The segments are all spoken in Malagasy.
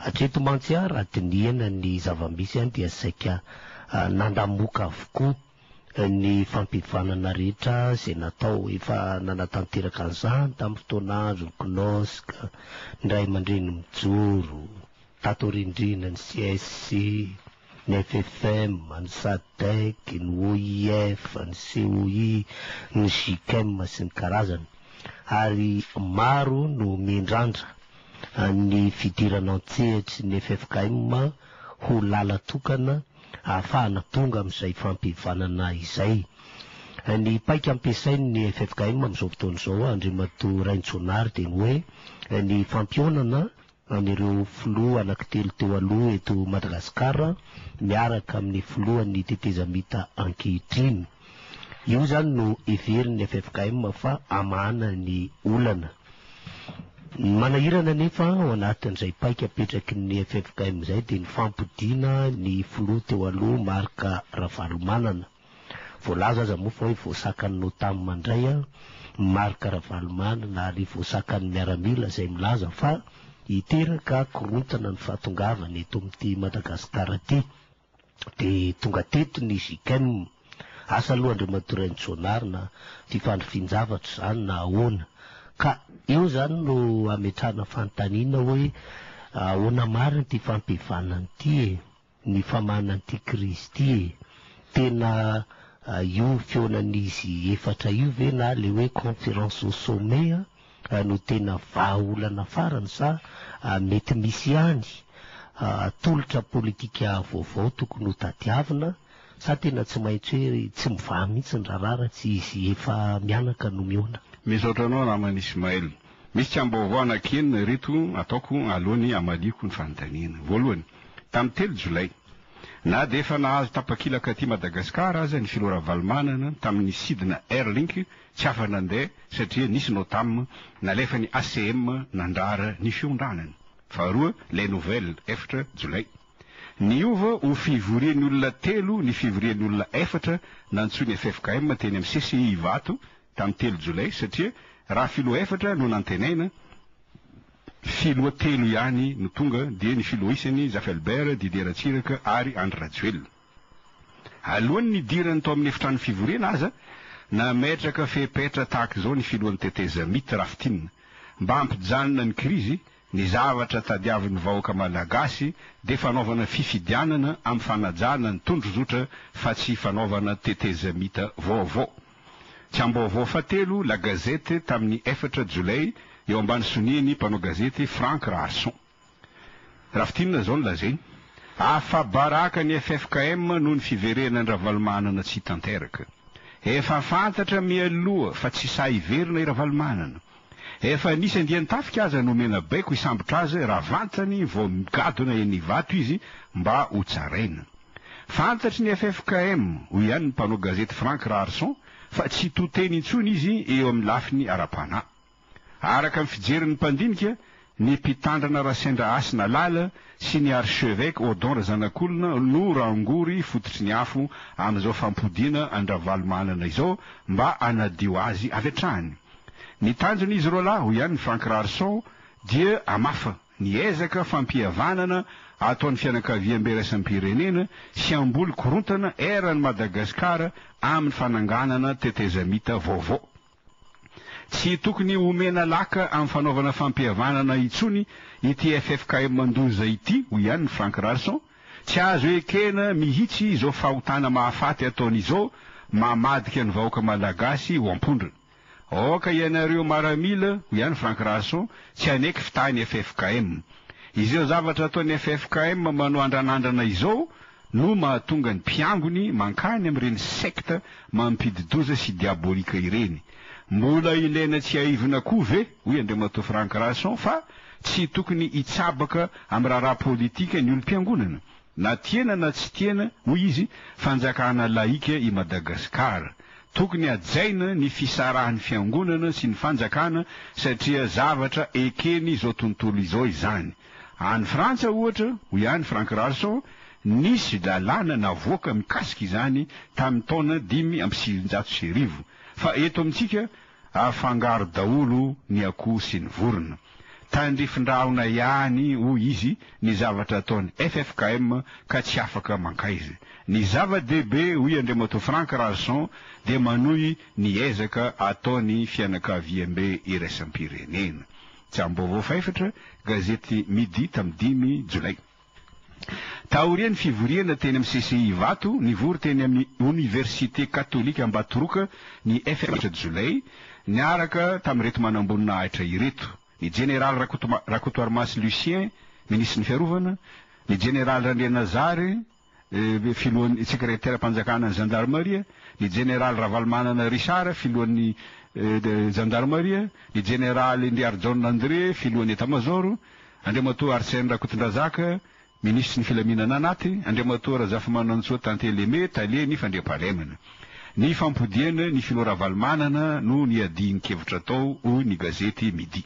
Hatreto mantsy aho raha dinihana ny zava-misy any dia saika nandamoka avokoa ny fampihavanana rehetra izay natao. Efa nanatanteraka an'izany tamin'ny fotoana andron'ny CNOSC, ny Ray aman-dReny Mijoro, tato aorian'ireny ny CSC, ny FFM, ny Sadec, ny OIF, ny COI, ny Gicem sy ny karazany, ary maro no miandrandra ny fidirana an-tsehatry ny ffkm ho lala tokana ahafahana tonga amin'izay fampihavanana izay. Ny paika ampiasain'ny ffkm amin'izao fotoana izao, Andriamatoa Raintsonary, dia ny hoe ny fampihaonana an'ireo filoha anankitelo teo aloha eto Madagasikara miaraka amin'ny filohan'ny tetezamita ankehitriny. Io izany no heverin'ny ffkm fa hamahana ny olana. Ny manahirana anefa ao anatin'izay paika apetraky ny ffkm izay dia ny fampodiana ny filoha teo aloha Marc Ravalomanana. Voalaza aza moa fa hoe voasakan'ny Notam mandray an, ny Marc Ravalomanana ary voasakan'ny miaramila izay milaza fa hiteraka korontana ny fahatongavany eto amin'ity Madagascar ity. Dia tonga teto ny JICM. Asa aloha Andriamatoa Rainijaonarina ity fandrifian-javatra izany na ahoana. Ka eo izany no ametrahana fanontaniana hoe ahoana marina ity fampihavana ity e? ny famanana an'ity krizy ity e! Tena io fihaonan'izy efatra io ve na le hoe conférence au sommet an no tena vahaolana farany sa mety misy ihany tolotra politika vaovao tokony ho tadiavina sa tena tsy maintsy hoe tsy mivaha mihitsy ny raharaha raha tsy izy efa mianaka no mihaona? Misaotra anao namana Ismaël. Misy tsaim-baovao anankienina ireto ataoko alohan'ny hamaliako ny fanontaniana. Voalohany, tamin'ny telo Jolay, na dia efa nahazo tapakilaka aty Madagasikara aza ny filoha Ravalomanana tamin'ny sidina Airlink tsy afa-nandeha satria nisy Notam nalefan'ny ACM nandrara ny fiondranany. Faharoa, Les Nouvelles, efatra Jolay. Niova ho fivorian'ny olona telo ny fivorian'ny olona efatra nantsoin'ny ffkm teny amin'ny CCI Ivato tamin'ny telo jolay satria raha filoha efatra no nantenaina, filoha telo ihany no tonga dia ny filoha isany, Zafy Albert, Didier Ratsiraka ary Andry Rajoelina. Alohan'ny nidirany tao amin'ny efitrano fivoriana aza, nametraka fepetra tahaka izao ny filohan'ny tetezamita, Rafitinina, mba hampijanona ny krizy Ny zavatra tadiavin'ny vahoaka Malagasy dia fanaovana fifidianana amin'ny fanajana ny tondrozotra fa tsy fanaovana tetezamita vaovao. Tsiambaovao fahatelo La Gazette tamin'ny efatra Jolay eo ambany sonian'ny mpanao gazety Franck Raharson. Rafitinina izao no lazainy, Afa-baraka ny ffkm noho ny fiverenan-dRavalomanana tsy tanteraka. Efa fantatra mialoha fa tsy sahy hiverina i Ravalomanana. Efa nisy andian-tafika aza nomena baiko hisambotra azy raha vantany vao migadona eny Ivato izy mba ho tsaraina. Fantatry ny ffkm, hoy ihany ny mpanao gazety Franck Raharison, fa tsy to teny intsony izy eo amin'ny lafiny ara-panahy. Araka ny fijerin'ny mpandinika, Ny mpitandrina Rasendra Hasina Lala sy ny archeveque Odon Razanakolona no rangory fototry ny afo amin'izao fampodiana an-dRavalomanana izao mba hanadio azy avy hatrany. Ny tanjon'izy roalahy, hoy ihany Franck Rarson, dia hamafa ny ezaka fampihavanana ataon'ny fianakaviambe iraisam-pirenena sy hamboly korontana eran'i Madagasikara amin'ny fananganana tetezamita vaovao. Tsy tokony homena laka amin'ny fanaovana fampihavanana intsony ity ffkm mandoza ity, hoy ihany Franck Ralson. Tsy azo ekena mihitsy izao fahotana mahafaty ataony izao mamadika ny vahoaka Malagasy ho am-pondrona. Aoka ianareo maramila, hoy ihany Franck Ralson, tsy haneky fitahin'ny ffkm. Izao zavatra ataon'ny ffkm manao andranandrana izao, no mahatonga ny mpiangony mankany amin'ireny secte mampidi-doza sy diabolika ireny. Mbola ilaina tsiahivina koa ve, hoy Andriamatoa Franck Rason, fa tsy tokony hitsabaka amin'ny raharaha politika ny olom-piangonana? Na tiana na tsy tiana, hoy izy, fanjakana lahika i Madagasikara. Tokony hajaina ny fisarahan'ny fiangonana sy ny fanjakana satria zavatra eken'izao tontolo izao izany. Any Frantsa, ohatra, hoy ihany Franck Ralson, nisy lalàna navoaka mikasika izany tamin'ny taona dimy amby sivinjato sy arivo, fa eto amintsika afangaro daholo ny akoho sy ny vorona. Tandrifindrahona ihany, hoy izy, ny zavatra ataon'ny ffkm ka tsy afaka mankaiza. Ny zava-dehibe, hoy Andriamatoa Franck Ralson, dia manohy ny ezaka ataon'ny fianakaviambe iraisam-pirenena. Tsaha-baovao fahefatra, gazety Midi tamin'ny dimy Jolay. Taorian'ny fivoriana teny amin'ny CCI Ivato, nivory teny amin'ny Oniversite Katolika Ambatoroka ny FMH Jolay, niaraka tamin'ireto manamboninahitra ireto, ny Jeneraly Rakotoarimasy Lucien, Minisitry ny Fiarovana, ny Jeneraly Randrianazary filohan'ny sekreteram-panjakanan'ny zandarimaria, ny jeneraly Ravalomanana Richard, filohan'ny zandarimaria, ny jeneraly Ndriarijaona André, filohan'ny etamazaoro, Andriamatoa Arsène Rakotondrazaka, minisitry ny filaminana anaty, Andriamatoa Razafimanantsoa Tantely Aimé, tale ny fandriampahalemana. Nifampodiana ny filoha Ravalomanana no niadian-kevitra tao, hoy ny gazety Midi.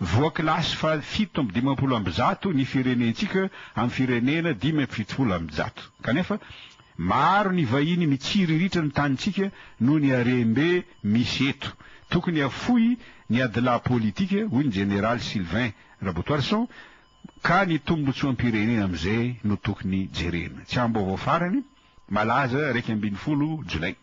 Voakilasy fahafito amby dimampolo amby zato ny firenentsika amin'ny firenena dimy amby fitopolo amby zato. Kanefa, maro ny vahiny mitsiriritra ny tanintsika noho ny harem-be misy eto. Tokony hafoy ny adilahy politika, hoy ny Jeneraly Sylvain Rabotoarison, ka ny tombontsoam-pirenena amin'izay no tokony jerena. Tsy ambaovao farany, malaza iraika ambin'ny folo Jolay.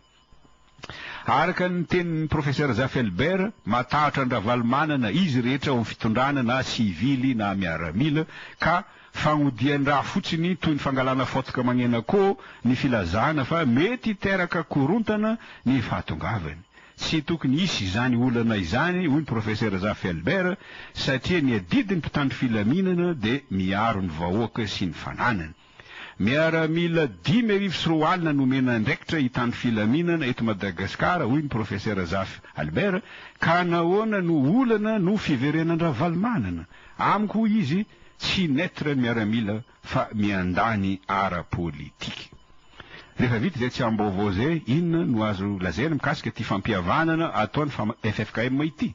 Araka ny tenin'ny Professeur Zaffelbert, matahotra an-dRavalomanana izy rehetra ao amin'ny fitondrana na sivily na miaramila ka fagnodian-dra fotsiny toy ny fangalana faotoka magnenakô ny filazana fa mety hiteraka korontana ny fahatongavany. Tsy tokony hisy izany olana izany hoy ny Professeur Zaffelbert satria ny adidin'ny mpitandro filaminana dia miaro ny vahoaka sy ny fananany. Miaramila dimy arivo sy roa alina no omena andraikitra hitandro filaminana eto Madagasikara, hoy ny Profesera Zafy Albert, ka nahoana no olana no fiverenan-dRavalomanana? Amiko, hoy izy, tsy neutre ny miaramila fa miandany ara-politika. Rehefa vita izay tsiambaovao izay, inona no azo lazaina mikasika ity fampihavanana ataon'ny ffkm ity?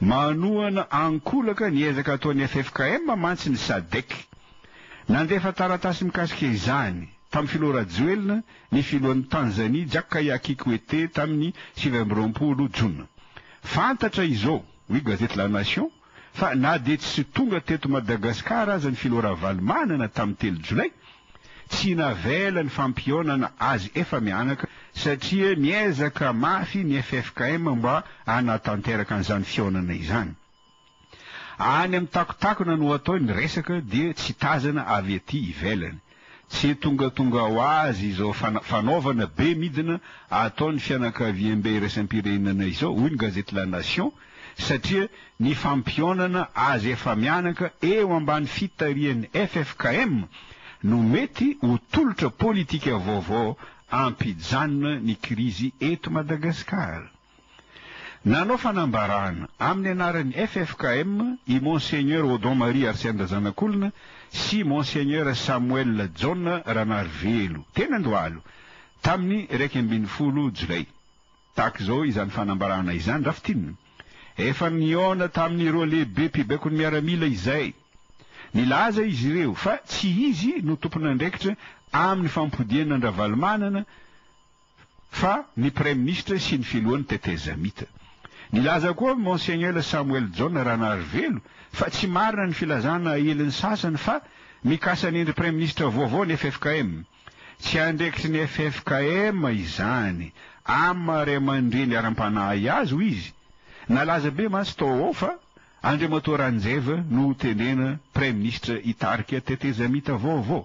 Manohana ankolaka ny ezaka ataon'ny ffkm mantsy ny Sadec. Nandefa taratasy mikasika izany, tamin'ny filoha Rajoelina, ny filohan'i Tanzanie, Jakaya Kikwete, tamin'ny sivy amby roapolo jona. Fantatra izao, hoy gazety La Nation, fa na dia tsy tonga teto Madagasikara aza ny filoha Ravalomanana tamin'ny telo jolay, Tsy navela ny fampihaonana azy efa mianaka satria miezaka mafy ny ffkm mba hanatanteraka an'izany fihaonana izany. Any amin'ny takontakona no atao ny resaka dia tsy tazana avy ety ivelany. Tsy tongatonga ho azy izao fanaovana be midina ataon'ny fianakaviambe iraisam-pirenena izao, hoy ny gazety La Nation, satria ny fampionana azy efa mianaka eo ambany fitarihan'ny ffkm no mety ho tolotra politika vaovao ampijanona ny krizy eto Madagasikara. Nanao fanambarana amin'ny anaran'ny ffkm i Monseigneur Odon Marie Arsenda Zanakolona sy Monseigneur Samuel Jaona Ranarivelo, teny Andohalo, tamin'ny iraika ambin'ny folo jolay. Tahaka izao izany fanambarana izany Draftin, Efa nihaona tamin'ireo lehibe mpibaikony miaramila izay. Nilaza izy ireo fa tsy izy no tompon'andraikitra amin'ny fampodiana an-dRavalomanana fa ny praiminisitra sy ny filohan'ny tetezamita. Nilaza koa Monsiegnela Samuel Jaona Ranarivelo fa tsy marina ny filazana aelin'ny sasany fa mikasa an'endry praiminisitra vaovao ny ffkm. Tsy andraikitry ny ffkm izany. Amn ray aman-dreny hiaram-panahy azy hoy izy. Nalaza be mantsy tao ao fa Andriamatoa Ranjeva no ho tenena praiminisitra hitarika tetezamita vaovao.